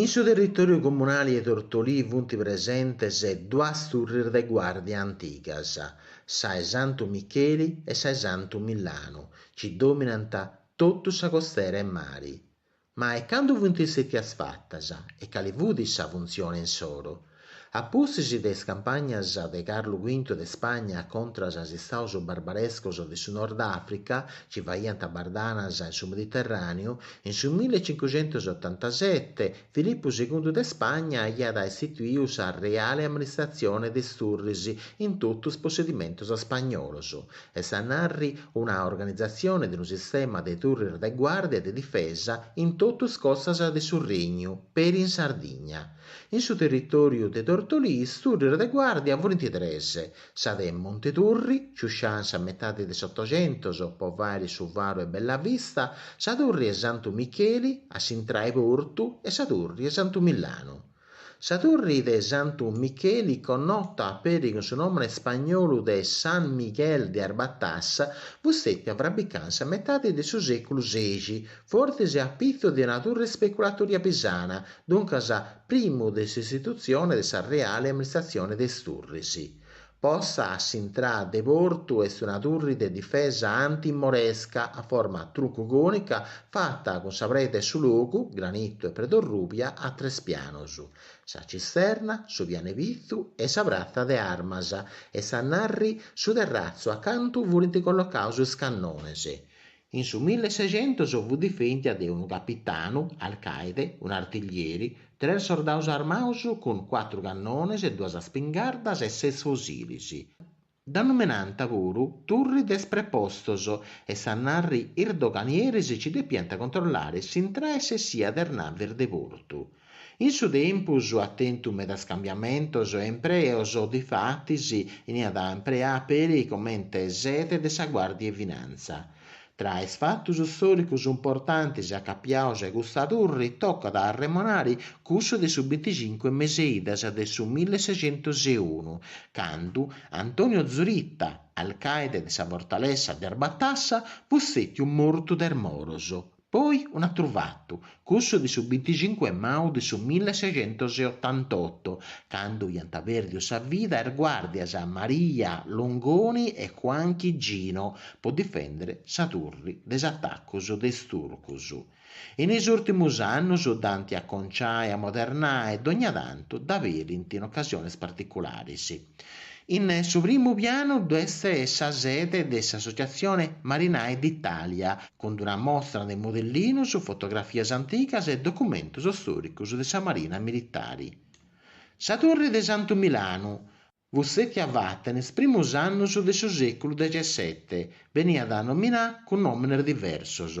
In su territòriu comunali 'e Tortolì funt presentes duas turris de guàrdia antigas, sa 'e Santu Micheli e sa 'e Santu Millanu, chi dòminant totu sa costera 'e mari. Ma e candu funt stètias fatas e cali fut sa funtzione insoro? A pustis de is campagnas de Carlu Quintu de Spagna contras a is istaus barbarescos de su Nord Africa, chi faiant bardanas in su Mediterraneu, in su milli e cincucentus e otantasete, Filippu Segundu de Spagna aiat istituiu sa Reale Amministratzione de is Turris in totu is possedimentus spagnolos, est a narri, una organizatzione de unu sistema de turris de guàrdia e de difesa in totu is costas de su Regnu, peri in Sardigna. In su territòriu de Tortolì is turris de guàrdia furint tres, sa de Monteturri, ciuscià in sa metadi de s'Otocentus po fàiri su faru 'e Bellavista, sa turri 'e Santu Micheli, a s'intrà 'e portu, e sa turri 'e Santu Millanu. Sa turri de Santu Micheli, connota peri cun su nòmene spagnolu de San Miguel de Arbatas, fut stètia frabbicà in sa metadi de su sèculu sexi, fortzis a pitzu de una turri speculatoria pisana, duncas primu de s'istitutzione de sa reale amministratzione de is turris. Posta a s'intrada de portu est una turri de difesa antimoresca a forma truncucònica fata cun sa preda 'e su logu, granitu e preda orrùbia, a tres pianos. Sa cisterna, su pianu 'e pitzu e sa pratza de armas, est a narri su terratzu a cantu furint collocaus is cannones. In su millesexentos fut difèndia de unu capitanu, alcaide, un'artiglieri, tres sordados armados cun cuatru cannones e duas spingardas e ses fusilis. Dda numenànt puru Turri de is Prepostos est a narri is doganieris chi depiant controllare s'intrada e s'essia de is navis de portu. In su tempus at tentu medas cambiamentos e impreos, difatis beniat impreà peri comente sede de sa Guàrdia 'e Finanza. Tra is fatos stòricos importantis acapiaus a custa turri tocat a arremonari cussu de su binticincu 'e mes'e idas de su millesexentuseunu, candu Antonio Zuritta, alcaide de sa fortalessa de Arbatassa, fut stètiu mortu de is moros. Poi un'atru fatu, cussu de su binticincu 'e mau de su millesexentoseotantotto, candu iant pèrdiu sa vida is guàrdias Maria Longoni e Juan Chigino po difèndere sa turri de is atacus de is turcus. In is ùrtimus annus dd'ant aconcià e amodernà e dogna tantu dd'aberint in ocasionis particularis. In su primu pianu dd'est sa sede de s'Associatzione Marinai d'Italia, cun d'una mostra de modellinos, fotografias antigas e documentos stòricos de sa marina militare. Sa Torre de Santu Milanu fut stètia fata in is primus annus de su sèculu dexesete, beniat nominà cun nòmines diversos,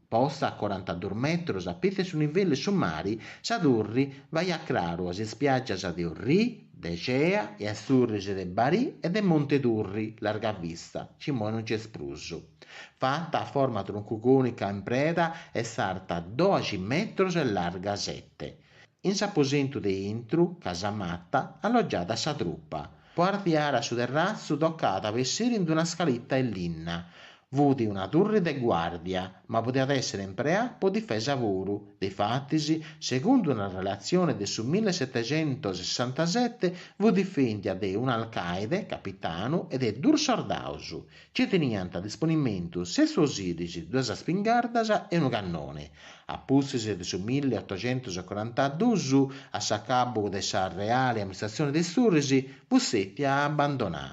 Posta a corantadus metrus a pitz' 'e su nivellu 'e su mari, sa turri faiat craru a is ispiaggias de Orrì, de Cea e a is turris de Barì e de Monte Turri, Largavista, chi imoi non nc'est prus. Fata a forma truncu cònica in preda est arta doxi metrus e larga sete. In s'aposentu de intru, casamata, allogiàt sa trupa. Po artziare a su terratzu tocàt a bessiri in d'una scalita 'e linna. Fut una turri de guàrdia, ma podiat èssere impreà po difesa puru. Difatis, segundu una relatzione de su mille setexentosessantasete, fut difèndia de un'alcàide, capitanu, e de duus sordaus. Nci teniant a disponimentu ses fosìlis, duas spingardas e unu cannoni. A pustis de su milli otocentus e corantadus, a s'acabu de sa reali amministratzioni de is turris, fut stètia abandonà.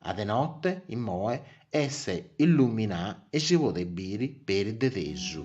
A de note, immoe, est illuminà e si podet biri peri de tesu.